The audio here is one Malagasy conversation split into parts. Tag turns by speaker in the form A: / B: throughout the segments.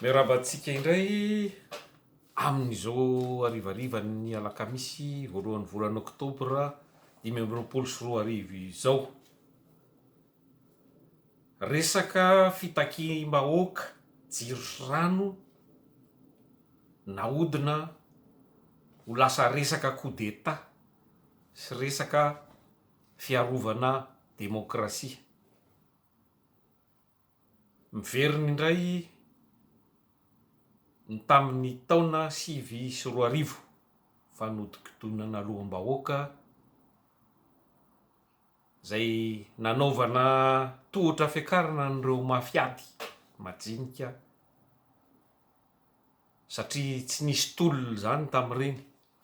A: Miarahaba antsika indray amin'izao harivarivan'ny alakamisy voalohan'ny volana oktobra dimy amby roapolo sy roa arivo izao. Resaka fitakiam-bahoaka jiro sy rano nahodina ho lasa resaka coup d'Etat sy resaka fiarovana demokrasia. Miverina indray ny tamin'ny taona sivy sy roa arivo, fanodinkodinana loham-bahoaka izay nanaovana tohotra fiakarana an'ireo mafiady majinika satria tsy nisy tolona izany tamin'ireny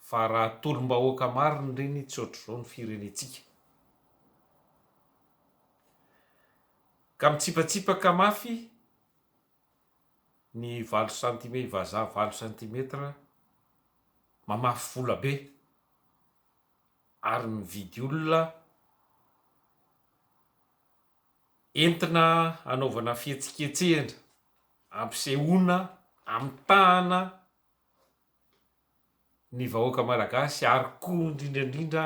A: fa raha tolom-bahoaka marina ireny tsy ohatr'izao ny firenentsika. Ka mitsipatsipaka mafy ny valo centime vazaha valo centimètre mamafy vola be ary mividy olona entina hanaovana fihetsiketsehana ampisehoana amitahana ny vahoaka malagasy ary koa indrindra indrindra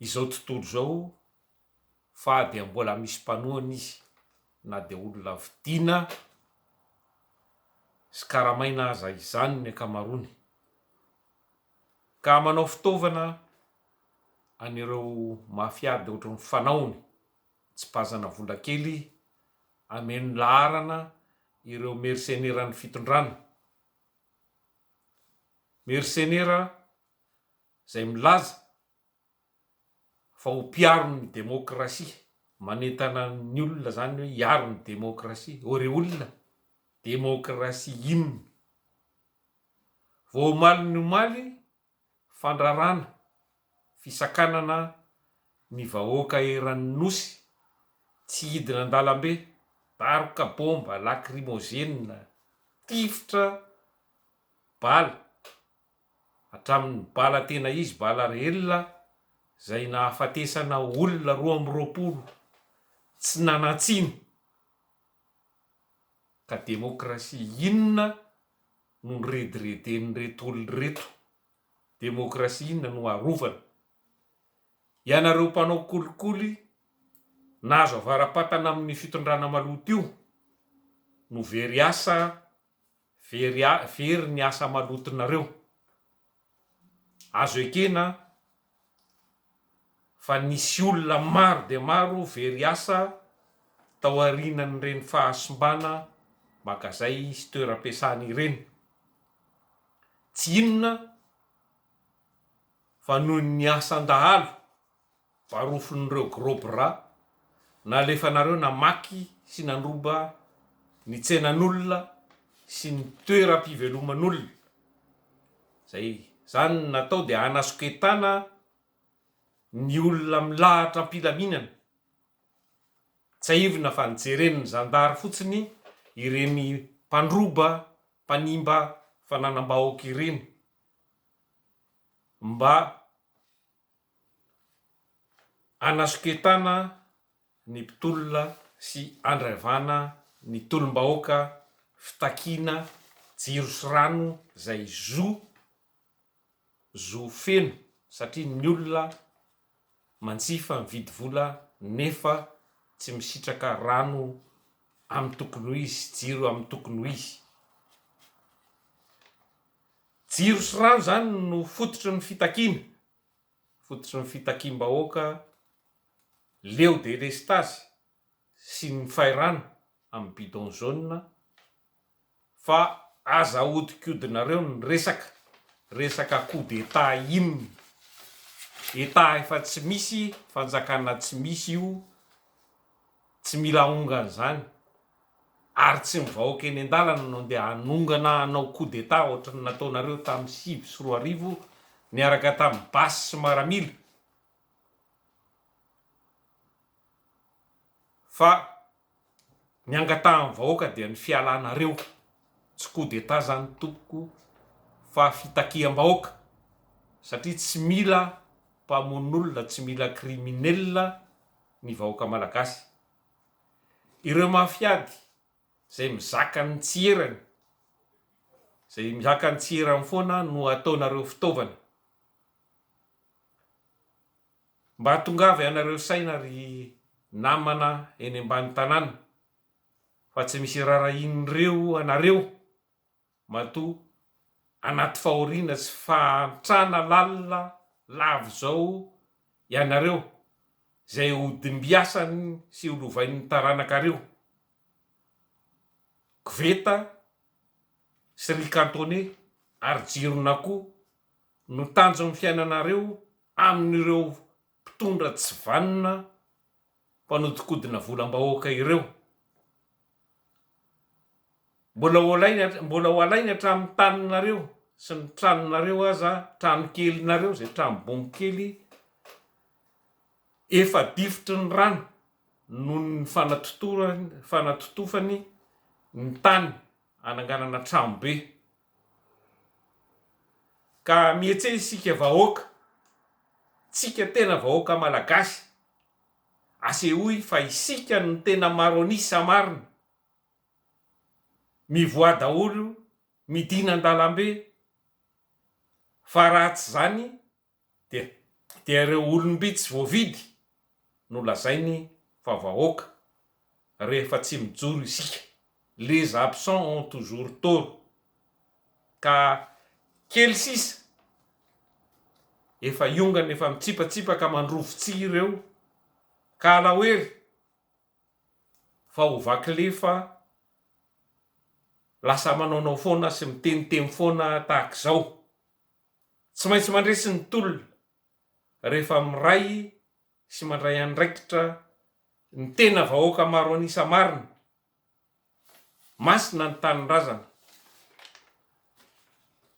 A: izao tontolo izao fa dia mbola misy mpanohana izy na dia olona vidiana sy karamaina aza izany ny ankamaroany ka manao fitaovana an'ireo mafia dia ohatry ny fanaony tsipazana vola kely ameno laharana ireo merseneran'ny fitondrana, mersenera izay milaza fa ho mpiaro ny demokrasia, manentana ny olona izany hoe hiaro ny demokrasia, ô re olona, demokrasia inona? Vao omaly ny omaly, fandrarana, fisakanana ny vahoaka eran'ny Nosy, tsy hidina an-dalambe, daroka, bomba, lakrimozenina, tifitra, bala, hatramin'ny bala tena izy bala reelle izay nahafatesana olona roa amby roapolo tsy nanan-tsiny ka demokrasia inona no niredireden'ireto olona ireto? demokrasia inona no arovana? ianareo mpanao kolikoly nahazo avara-patana amin'ny fitondrana maloto io no very asa Very a very ny asa malotonareo. Azo ekena fa nisy olona maro dia maro very asa taorianan'ireny fahasimbana magazay sy toeram-piasana ireny. Tsy inona fa noho ny asan-dahalo. varofin'ireo gros bras nalefanareo namaky sy nandroba ny tsenan'olona sy ny toeram-piveloman'olona izay izany natao dia hanasoketana ny olona milahatra am-pilaminana, tsiahivina fa nojeren'ny zandary fotsiny ireny mpandroba mpanimba fananam-bahoaka ireny mba Anasoketana ny mpitolona sy andraivana ny tolom-bahoaka fitakiana jiro sy rano izay zo zo feno satria ny olona manjifa mividy vola nefa tsy misitraka rano amin'ny tokony ho izy sy jiro amin'ny tokony ho izy. Jiro sy rano izany no fototry ny fitakiana, fototry ny fitakiam-bahoaka leo delestazy sy ny fairano amin'ny bidon jaune fa aza ahodikodinareo ny resaka, resaka coup d'Etat inona? Etat efa tsy misy, fanjakana tsy misy io, tsy mila aongan'izany. Ary tsy ny vahoaka eny an-dalana no andeha hanongana hanao coup d'Etat ohatry ny nataonareo tamin'ny sivy sy roa arivo niaraka tamin'ny basy sy maramila fa ny angatahan'ny vahoaka dia ny fialanareo. Tsy coup d'Etat izany tompoko fa fitakiam-bahoaka satria tsy mila mpamono olona, tsy mila criminel ny vahoaka malagasy. Ireo mafiady izay mizaka ny tsy erany, izay mizaka ny tsy erany foana no ataonareo fitaovana. Mba tongava ianareo saina ry namana eny ambany tanàna fa tsy misy irarahin'ireo anareo Matoa anaty fahoriana sy fahantrana lalina lava izao ianareo, izay hodimbiasany sy holovain'ny taranakareo. Koveta sy ry kantone ary jiron'akoho no tanjon'ny fiainanareo amin'ireo mpitondra tsy vanona, mpanodikodina volam-bahoaka ireo. Mbola ho alainy, mbola ho alainy hatramin'ny taninareo sy ny tranonareo aza, tranokelinareo, izay trano-bongo kely efa difotry ny rano noho ny fanatotorany, fanatotofany ny tany hananganana tranobe. Ka mietse isika vahoaka, tsika tena vahoaka malagasy, asehoy fa isika no tena maro an'isa marina, mivoaha daholo midina an-dalambe, fa raha tsy zany, Dia dia ireo olom-bitsy voavidy no lazainy fa vahoaka rehefa tsy mijoro isika, les absents ont toujours tort, ka kely sisa efa hiongana efa mitsipatsipaka mandrovo tsihy ireo ka alaoery fa ho vaky lefa lasa manaonao foana sy miteniteny foana tahaka izao. Tsy maintsy mandresy ny tolona rehefa miray sy mandray andraikitra ny tena vahoaka maro an'isa marina. Masina ny tanindrazana.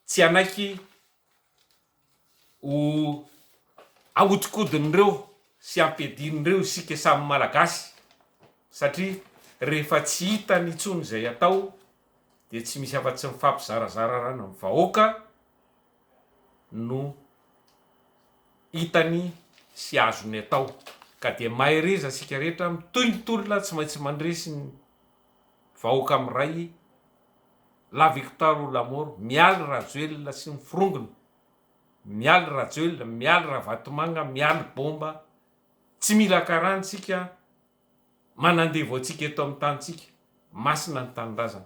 A: Tsy hanaiky ho ahodikodin'ireo sy ampiadian'ireo isika samy Malagasy satria rehefa tsy hitany intsony izay atao, dia tsy misy afa tsy mifampizarazara rano amin'ny vahoaka no hitany sy azony atao ka dia mahereza isika rehetra mitohy ny tolona tsy maintsy mandresy ny vahoaka miray la victoire ou la mort mialy rajoelina sy ny forongony mialy rajoelina mialy ravatomanga mialy bomba tsy mila karana isika manandevo antsika eto amin'ny tanintsika. Masina ny Tanindrazana.